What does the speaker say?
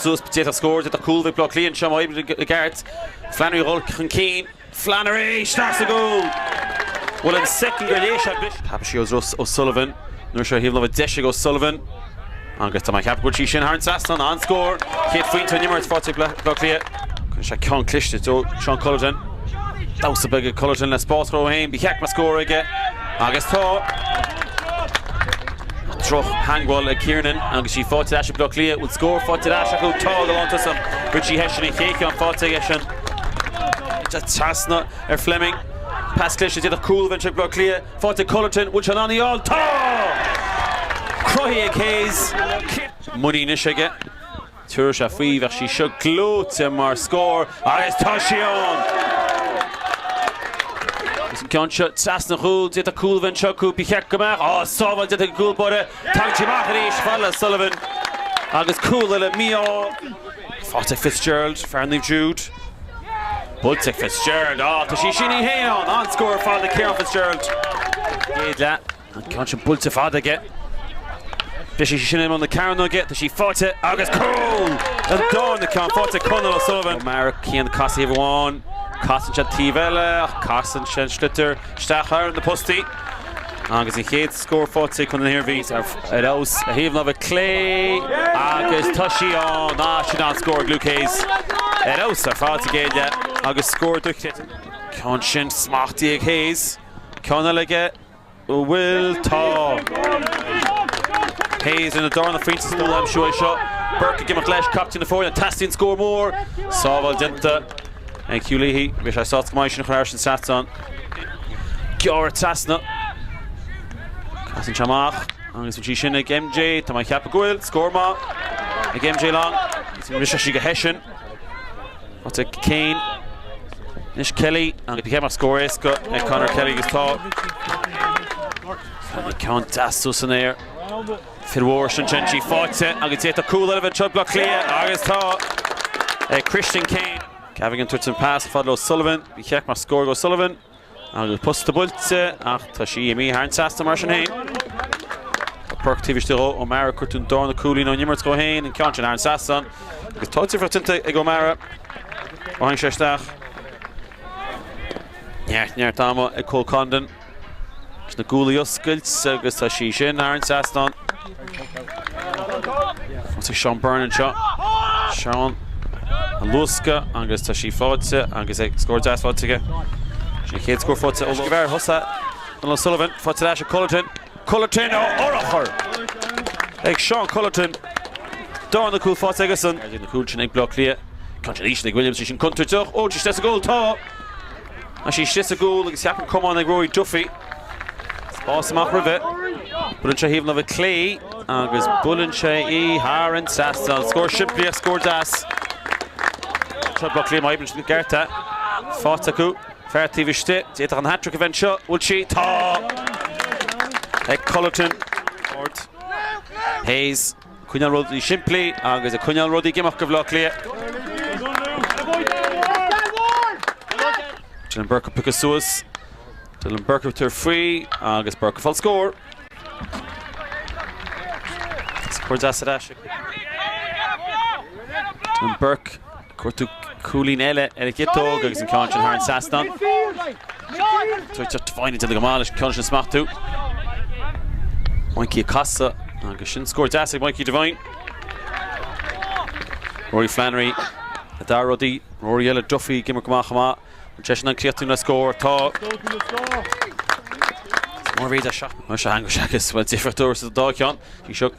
suas d'fhéadfadh scór d'fhéadfadh cúl a bheith ag Bleá Cliath anseo má oibríonn i gceart. Flannery ag dul chun cinn. Flannery! Isteach sa gcúl! Bhuel an soicind gur léigh sé an bhris. Thapaigh sé í Ross O Sullivan. An uair seo thaobh láimhe deise ag O Sullivan. Agus tá mé ag ceapadh go bhfuil sí sin thar an trasnán. An-scór! Chéad phointe ón imirt faighte ag Bleá Cliath. Rinne sé an ceann cliste de Seán Cullerton. Damhsa beag ag Cullerton le spás a chruthú. Ba cheart go mbeadh scór aige. Agus tá! Drochtheagmháil ag Kiernan agus í faighte ar ais ag Bleá Cliath. Bhfuil scór faighte ar ais acu? Tá! Go hálainn, tá sí ann! Richie Hession an chéad cheann faighte aige sin. Trasna ar Fleming. Pas cliste d'fhéadfadh cúl a bheith ag Bleá Cliath. Faighte ag Cullerton. Bhfuil sé in ann í a fháil? Tá! Cruthaithe ag Hayes. Muinín anois aige. Chuir sé faoi, bheadh sí seo gleoite mar scór agus tá sí ann! Agus an ceann seo trasna an chúil, d'fhéadfadh cúl a bheith anseo acu, ba cheart go mbeadh, á, sábháil, déanta ag an gcúl báire, tagann sí amach arís, falla le Sullivan agus cúl eile mí-ádh. Faighte ag Fitzgerald, fear Naomh Jude. Buailte ag Fitzgerald, á, tá sí sin í fhéin ann, an-scór ar fad ag Ciarán Fitzgerald. Chéad leath. An ceann sin buailte fada aige. Briseann sí sin imeall na cearnóige, tá sí faighte agus cúl! An darna ceann faighte ag Conall O'Sullivan. O'Mara, Cian casann sé taobh amháin, casann sé an taobh eile ach casann sé an sliotar isteach thar na postaí agus an chéad scór faighte ag Contae na hIarmhí. Ar fheabhas ar thaobh láimhe clé agus tá sí ann! Ah, sin an-scór ag Luke Hayes. Ar fheabhas ar fad sa gcéad leath agus scór dochreidte. Ceann sin smachtaithe ag Hayes, ceann eile aige. An bhfuil? Tá. Hayes lena dharna pointe sa dul aimsiú seo. Burke ag imeacht leis, captaen na foirne. Teastaíonn scór mór. Sábháil déanta ag Hugh Leahy. Bheadh sé sásta go mbeidh sin chomh hard an tsraith san. Gearradh trasna. Casann sé amach agus bhfuil sí sin ag MJ. Tá mé ag ceapadh go bhfuil. Scór maith ag MJ Long. Briseann sí go Hession. Áit Kane. Anois Kelly. Agus ba cheart go mbeadh scór éasca ag Conor Kelly agus tá. Ceann deas suas san aer. Fir mhóra, sin tá sí faighte agus d'fhéadfadh cúl eile a bheith anseo ag Baile Átha Cliath agus tá ag Christian Kane. Gavigan ag tabhairt an pas fada le O'Sullivan. Bheadh sí seo go deas mar scór ag O'Sullivan. Agus an posta buailte ach tá sí imithe thar an trasnán mar sin féin. Tá Burke taobh istigh ó O'Mara, cuardú an darna cúilín ón imirt dhó féin, an ceann sin thar an trasnán. Agus tá difríocht déanta ag O'Mara ó tháinig sé isteach. Neart neart ama ag Cole Condon na guaillí a oscailt agus tá sí sin thar an trasnán. Thosaigh Seán Byrne anseo. Seán ag luascadh agus tá sí faighte agus scór deas faighte aige. Sin an chéad scór faighte ó Gheimhear Thusa. Donal O'Sullivan faighte leis ag Cullerton. Cullerton á fhorchur ag Seán Cullerton. Dán Ó Cúil faighte aige san. Ag an chúl sin ag Baile Átha Cliath. Tá sé arís ag Williams, bhí sin contúirteach. Ó, tá sí sa gcúl. Tá. Tá sí sa gcúl agus cheap an cumann ag Rory Duffy. Spás amach roimhe. Buaileann sé de thaobh na láimhe clé agus buaileann sé í thar an trasnán. Scór simplí ach scór deas. Seo Buckley má oibríonn siad go ceart é. Faighte acu. Fear taobh istigh. D'fhéadfadh an hat-trick a bheith anseo. Bhfuil sí? Tá! Ag Cullerton. Hayes. coinneáil rudaí simplí agus ag coinneáil rudaí ag imeacht do Bhaile Átha Cliath. Dylan Burke ag piocadh suas. Dylan Burke ag tabhairt faoi agus Burke ag fáil scór. Scór deas ar ais. Dylan Burke Cuardú cúilín eile ar an chiotóg agus an ceann sin thar an trasnán. Devine ag déanamh go maith leis an ceann sin a smachtú. Mikey ag casadh agus sin scór deas ag Mikey Devine. Rory Flannery le Dara Rudaí. Rory eile Duffy ag imirt go maith chomh maith. An sé sin an cliachtú le scór atá. Is mór mhéid a. Mar is eadh go seachas bhfuil difríocht orthu sa dá cheann. Bhí seo.